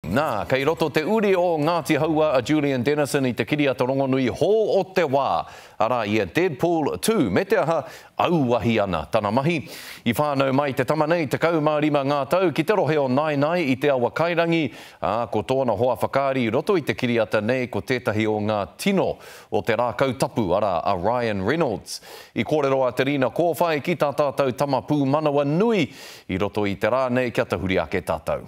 Nā, kei roto te uri o Ngāti Hauā a Julian Dennison i te kiriata rongonui Hō o te Wā, arā, i a Deadpool ii, me te aha, auahi ana tana mahi. I whānau mai te tama nei 15 ngā tau ki te rohe o Naenae i Te Awakairangi, ā, ko tōna hoa whakaari i roto i te kiriata nei ko tētahi o ngā tino o te rākau tapu, arā, a Ryan Reynolds. I kōrero a Te Rina Kōwhai ki tā tātou tama pūmanawa nui i roto i te rā nei kia tahuri ake tātou.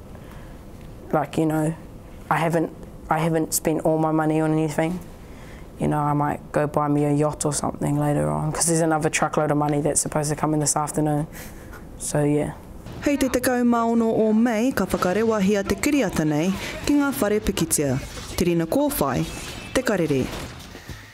like you know I haven't I haven't spent all my money on anything you know I might go buy me a yacht or something later on because there's another truckload of money that's supposed to come in this afternoon so yeah. Hei te 16 o Mei ka whakarewahia te kiriata nei ki ngā whare pikitia, Te Rina Kōwhai, Te Karere.